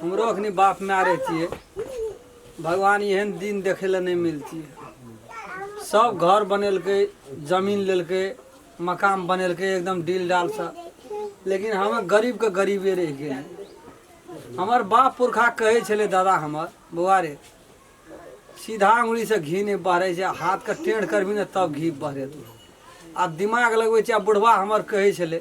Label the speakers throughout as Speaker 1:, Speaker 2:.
Speaker 1: हमरो अखनी बाप माय रहितियै भगवान एहन दिन देखै लए नहि मिलतियै सब घर बनेलकै जमीन लेलकै मकान बनेलकै एकदम डील डाल से लेकिन हम गरीब के गरीबे रहि गेली हमर बाप पुरखा कहै छलै दादा हमर बौआ रे सीधा उंगली से घी नहि बहरै छै हाथ के टेढ़ करबी ने तब घी बहरेतौ आ दिमाग लगबै छै आ बुढ़वा हमर कहै छलै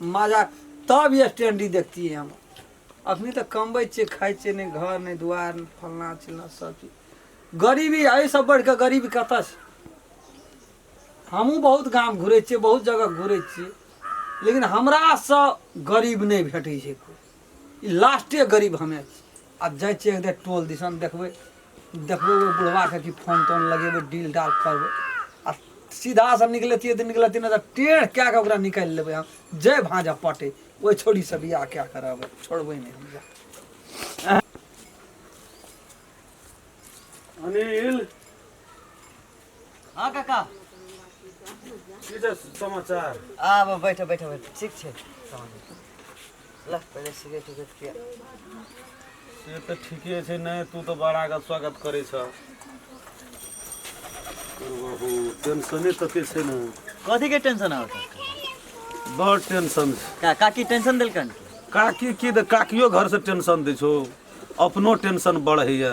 Speaker 1: मजा तब ये स्टैंडी देखतियै हम अखनी तऽ कमबै छियै खाइ छियै नहि घर नहि दुआर नहि फलना चिलना सब चीज गरीबी एहिसँ बढ़ि कऽ गरीबी कतऽ छै हमहूँ बहुत गाम घुरै छियै बहुत जगह घुरै छियै लेकिन हमरासँ गरीब नहि भेटै छै कोइ ई लास्टे गरीब हमे आब जाइ छियै एकटा टोल दिसन देखबै देखबै ओहि बुढ़बाके कि फोन तोन लगेबै डील डाल करबै आ सीधा से निकलतियै तऽ निकलतियै नहि तऽ टेढ़ कए कऽ ओकरा निकालि लेबै हम जय भाँजा पटे ओहि छोड़ी से बियाह कए कऽ रहबै छोड़बै नहि हम बियाह। अनिल
Speaker 2: हाँ
Speaker 3: काका की
Speaker 2: रे समाचार आब बैठो बैठो
Speaker 3: बैठो ठीक छै समाचार। लह पहिले सिगरेट उगरेट
Speaker 2: पिया से तऽ ठीके छै नहि तू तऽ बड़ा के स्वागत करै छ बहु टेंशने तते छै ने कथी के टेंशन
Speaker 3: आउ बड़
Speaker 2: टेंशन छै का काकी टेंशन
Speaker 3: देलकन काकी की तऽ
Speaker 2: काकियो घर से टेंशन दै छौ अपनो टेंशन बढ़ैया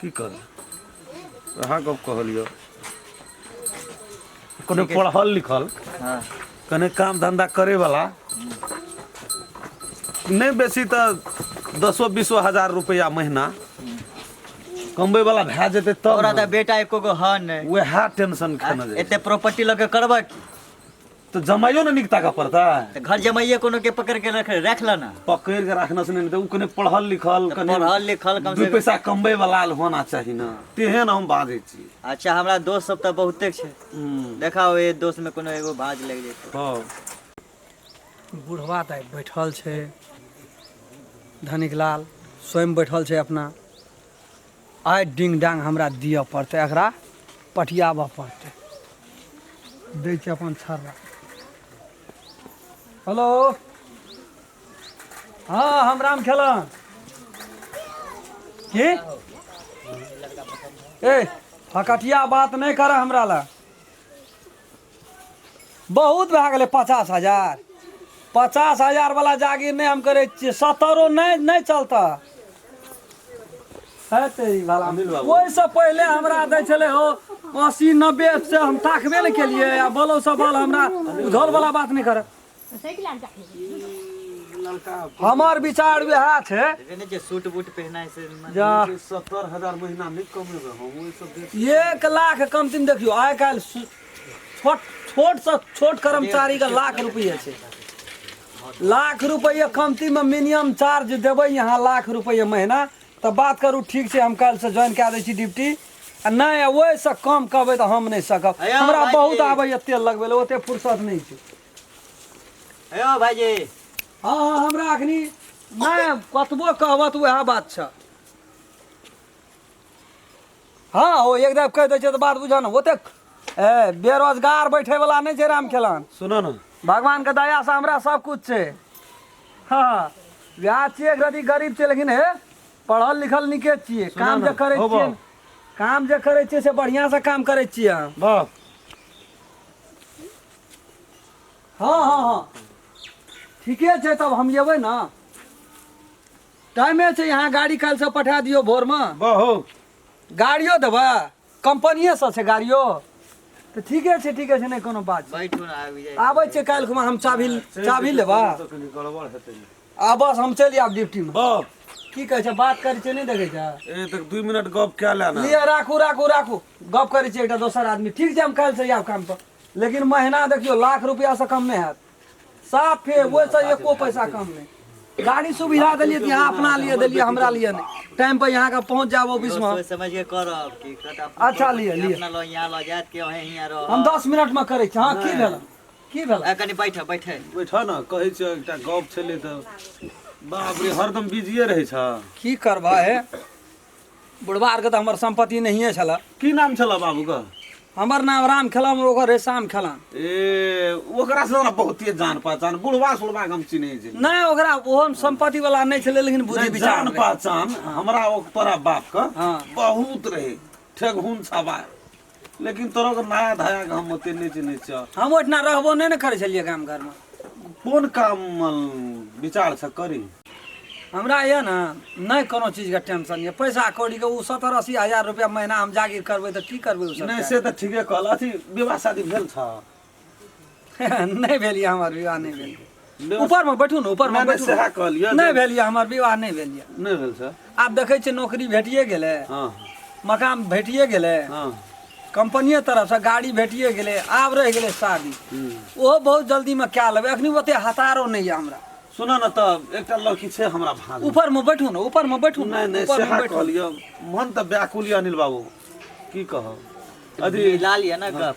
Speaker 2: की करबै उएह गप्प कहलियौ कने ठीके छै। पढ़ल लिखल हँ
Speaker 3: कने काम
Speaker 2: धन्धा करयवला नहि बेसी तऽ दसो बीसो हजार रुपैआ महीना कमबैवला भए जेतै तब तोरा तऽ ने। बेटा एको गो
Speaker 3: हन नहि उएह टेंशन
Speaker 2: खेने जाइ एते प्रॉपर्टी लऽ के करबह
Speaker 3: की तो
Speaker 2: जमाइयो ने निकता का पड़ता त घर जमाइए
Speaker 3: कोनो के पकड़ के रख रख ल ना पकड़ के रखना से
Speaker 2: नहीं तो उ कने पढ़ल लिखल त कने पढ़ल लिखल कम दू से कम
Speaker 3: पैसा कमबै वाला
Speaker 2: होना चाही ना तेहन हम बाजै छी अच्छा हमरा दोस्त सब
Speaker 3: त बहुते छै हम्म, देखाओ ए दोस्त में कोनो एगो भाज लग जैते हँ
Speaker 2: बुढ़वा
Speaker 1: तऽ बैठल छै धनिक लाल स्वयं बैठल छै अपना आइ डिंग डांग हमरा दिअ पड़तै एकरा पटियाबऽ पड़तै दै छै अपन छर्रा हेलो हँ हम राम खेलन की ए हकटिया बात नहि करऽ हमरा लए बहुत भए गेलै पचास हजार पचास हजार वाला जागीर नहि हम करै छियै सत्तरो नहि नहि चलतऽ हेतै ई वाला अनिल बाबू। ओहिसँ पहिले हमरा दै छलै हो अस्सी नब्बे से हम ताकबे नहि केलियै आ बोलो सब बोल हमरा झोल वाला बात नहि करब साइकिल आर जाके ई लड़का हमर विचार वएह छै देखे ने जे सूट बूट
Speaker 3: पहनाय से मन- जा सत्तर
Speaker 1: हजार
Speaker 2: महीना नहीं कमेबे हम ओहि सब देख एक लाख कम
Speaker 1: तीन देखियो आइ काल्हि सु- छोट छोट से छोट कर्मचारी के लाख रुपये छै लाख रुपये कमती में मिनिमम चार्ज देबै यहाँ लाख रुपये महीना तऽ बात करू ठीक छै हम काल्हिसँ ज्वाइन कए दै छी ड्यूटी आ नहि ओहिसँ कम कहबै तऽ हम नहि सकब हैया हमरा भाई बहुत जी। आबैए तेल लगबै लए ओते फुर्सत नहि छै
Speaker 3: हे यौ भाइजी हँ हँ
Speaker 1: हमरा अखनी नहि कतबो कहबह तऽ उएह बात छ हँ हो एक दाब कहि दै छै तऽ बात बुझह ने ओतेक ए बेरोजगार बैठे वाला नहि छै राम खेलन सुनऽ ने भगवान
Speaker 2: के दया से
Speaker 1: हमरा सब कुछ छै हँ वएह छियै एक रति गरीब छियै लेकिन हे पढ़ल लिखल नीके छियै सुनऽ काम ने, जे करै हो छियै बा। काम जे करै छियै से बढ़िआँ से काम करै छियै हम वाह हँ हँ हँ ठीके छै तब हम जेबै ने टाइमे छै यहाँ गाड़ी काल्हिसँ पठा दियौ
Speaker 2: भोरमे
Speaker 1: बहुत गाड़ियो देबै कंपनिएसँ छै गाड़ियो तऽ ठीके छै ठीके छै नहि कोनो बात छै बैठू ना आबि जाइ आबै
Speaker 3: छै काल्हि खुमा हम
Speaker 1: चाभी चाभी लेबा तो कनी गड़बड़
Speaker 2: हेतै ने। आ बस हम चलि
Speaker 1: आयब ड्यूटीमे बाप की कहै
Speaker 2: छै बात
Speaker 1: करै छै नहि देखै छै ए तक दू मिनट
Speaker 2: गप कए ले ना लिअ राखू राखू
Speaker 1: राखू गप करै छै एकटा दोसर आदमी ठीक छै हम काल्हिसँ आयब कामपर लेकिन महीना देखियो लाख रुपया से कम नहीं है साफ है वो से एको पैसा कम नहीं गाड़ी सुविधा दिलिए तो यहाँ अपना लिए दिलिए हमरा लिए नहीं टाइम पर यहाँ का पहुँच जाओ ऑफिस में सोच समझ के करब कि कत
Speaker 3: अपन अच्छा, करब, लिए, कि लिए।
Speaker 1: अपना लो यहाँ लो जात
Speaker 3: के वहीं यहाँ रहो हम दस मिनट में करे
Speaker 1: छी। हाँ की भेल की भेल आ, कनी बैठे बैठे
Speaker 3: बैठा न
Speaker 2: कहै छ एकटा गप छलै त बाप रे हरदम बिजिए रहै छ की करबा है
Speaker 1: बुढ़वा आरके तऽ हमर सम्पत्ति नहिए छलऽ की नाम छलऽ बाबूके
Speaker 2: हमर नाम राम
Speaker 1: खेलम ओकर रहै शाम खेलम ए
Speaker 2: ओकरा से हमरा बहुते जान पहचान बुढ़वा सुढ़वा के हम चिन्है छी नहि ओकरा ओहो
Speaker 1: सम्पत्ति वाला नहि छलै लेकिन बुद्धि नहि, विचार जान रहै। पहचान
Speaker 2: हमरा ओ तोरा बाप के हाँ। बहुत
Speaker 1: रहे
Speaker 2: ठेगहुन सवार लेकिन तोरा के नया धाया के हम ओते नहि चिन्है छियौ हम ओहिठिना रहबो नहि
Speaker 1: ने करै छलियै गाम घरमे कोन काम
Speaker 2: मे विचार छ करी हमरा
Speaker 1: यऽ ने नहि कोनो चीजके टेंशन यऽ पैसा कौड़ीके ओ सत्तर अस्सी हजार रुपया महीना हम जागिर करबै तऽ की करबै ओ सब नहि से तऽ ठीके कहल
Speaker 2: अथी विवाह शादी भेल छ
Speaker 1: नहि भेल यऽ हमर विवाह नहि भेल यऽ। ऊपरमे बैठू ने ऊपरमे नहि, नहि, बैठू सएह ने। कहलियै नहि जे- भेल
Speaker 2: यऽ हमर विवाह
Speaker 1: नहि भेल यऽ नहि भेल सर आब
Speaker 2: देखै छियै नौकरी
Speaker 1: भेटिए गेलै हँ
Speaker 2: मकान भेटिए
Speaker 1: गेलै हँ
Speaker 2: कंपनिये
Speaker 1: तरफसँ गाड़ी भेटिए गेलै आब रहि गेलै शादी हम्म। ओहो बहुत जल्दीमे कए लेबै एखनी ओते हतारो नहि यऽ हमरा सुनऽ ने तऽ
Speaker 2: एकटा लड़की छै हमरा भाग ऊपरमे बैठू ने ऊपरमे
Speaker 1: बैठू ने नहि नहि ऊपरमे सएह बैठू
Speaker 2: कहलियै मन
Speaker 1: तऽ
Speaker 2: व्याकुल यऽ अनिल बाबू की कहब अथी लाल यऽ ने गप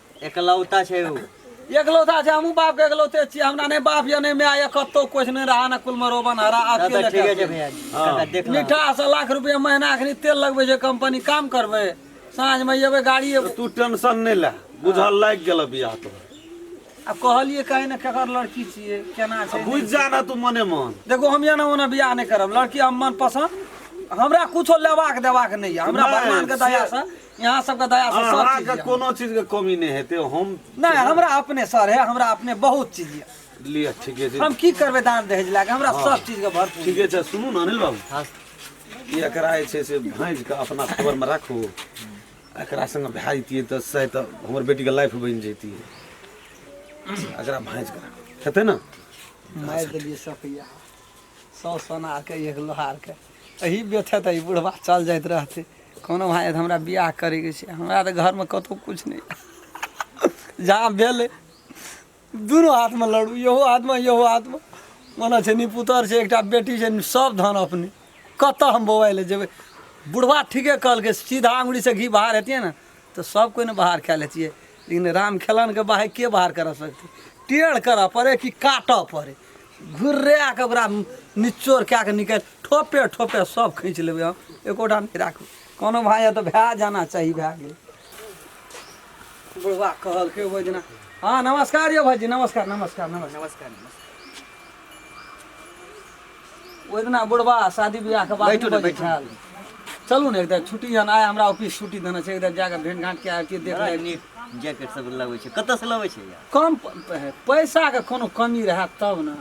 Speaker 1: एकलौता छै
Speaker 3: ऊ एकलौता छै हमहूँ
Speaker 1: बापके एकलौते छियै हमरा नहि बाप यऽ नहि माय यऽ कतौ किछु नहि रहऽ ने कुलमे रोबन हरा तब अकेले तऽ ठीके छै कए भैया जी हाँ।
Speaker 3: काका
Speaker 1: देख
Speaker 3: लऽ मीठा से लाख रुपया
Speaker 1: महीना अखनी तेल लगबै छै कंपनी काम करबै साँझमे एबै गाड़ी एबै तू टेंशन नहीं
Speaker 2: ले बुझल लाग गेल बियाह तो आ
Speaker 1: कहलियै कहीं ने केकर लड़की छियै केना छै बुझ जा ना तू मने
Speaker 2: मन देखो हम एना ओना
Speaker 1: बियाह नहि करब लड़की हम मन पसन्द हमरा कुछो लेबाक देबाक नहि यऽ हमरा नहि, भगवान के से- दया से यहाँ सबके दया से सब चीज अहाँके यऽ। कोनो चीजके
Speaker 2: कमी नहि हेतै हम नहि हमरा अपने
Speaker 1: सर है हमरा अपने बहुत चीज यऽ लिअ ठीके छै हम
Speaker 2: की करबै दान दहेज
Speaker 1: लए कऽ हमरा सब चीज के भरपूर ठीके छै सुनू ने अनिल
Speaker 2: बाबू
Speaker 3: ई एकरा
Speaker 2: जे छै से भाँजि कऽ अपना खबरमे राखू एकरा सङ्गे भए जैतियै तऽ शायद तऽ हमर बेटीके लाइफ बनि जैतियै एकरा भाँजि कऽ राखू हेतै ने मारि देलियै
Speaker 1: सपैया सौ सोनार के एक लोहार के एहि बेथे तऽ ई बुढ़बा चल जाइत रहतै कोनो भाय तऽ हमरा बियाह करैके छै हमरा तऽ घरमे कतहु किछु नहि जहाँ भेलै दुनू हाथमे लड़ू इहो हाथमे इहो हाथमे मने छै नि पुतर छै एकटा बेटी छै नि सब धन अपने कतऽ हम बौआइ लए जेबै बुढ़बा ठीके कहलकै सीधा अङ्गुरीसँ घी बाहर हेतियै ने तऽ सब कोइ ने बाहर कए लै छियै लेकिन राम खेलनके बाहर के बाहर करऽ सकतै टेढ़ करऽ पड़ै कि काटऽ पड़ै घुर्रा कऽ ओकरा निचोड़ कए कऽ निकालि ठोपे ठोपे सब खींच लेबै हम एकोटा नहि राखू कोनो भाय यऽ तऽ भए जाना चाही भए गेल बुढ़वा कहलकै ओहि दिना हँ नमस्कार यौ भाईजी नमस्कार नमस्कार नमस्कार नमस्कार
Speaker 3: नमस्कार
Speaker 1: ओहि दिना बुढ़बा शादी विवाहके बाद बैठू ने, नहि बैठू। बैठल। चलू ने एकदा छुट्टी जहन आइ हमरा ऑफिस छुट्टी देने छै एकदा जाकऽ भेंट घाट के आबि देख बड़ा लेब नीक जैकेट
Speaker 3: सब लबै छै कतऽ से लबै छै यार कम प- प-
Speaker 1: पैसाके कोनो कमी रहए तब ने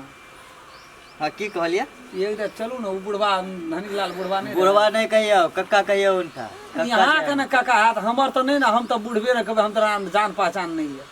Speaker 1: हँ
Speaker 3: की कहलियै एकदा चलू ने
Speaker 1: ओ बुढ़बा धनीलाल बुढ़बा नहि रहए। बुढ़वा नहि कहियौ
Speaker 3: कक्का कहियौ उनका कक्का यहाँ के कहियौ। ने काका
Speaker 1: हाथ हमर
Speaker 3: तऽ
Speaker 1: नहि ने हम तऽ बुढ़बे ने कहबै हम तऽ राम जान पहचान नहि यऽ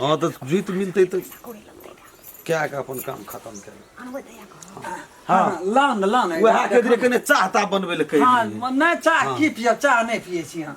Speaker 2: हँ तऽ जीत मिलतै तऽ कए कऽ अपन काम खतम कए हँ
Speaker 1: लाउ ने लाउ ने उएह के
Speaker 2: धीरे
Speaker 1: कने
Speaker 2: चाहता
Speaker 1: बनबै लए
Speaker 2: कहि हँ
Speaker 1: दियै। नहि चाह की पियब चाह
Speaker 2: नहि
Speaker 1: पियै
Speaker 2: छी
Speaker 1: अहाँ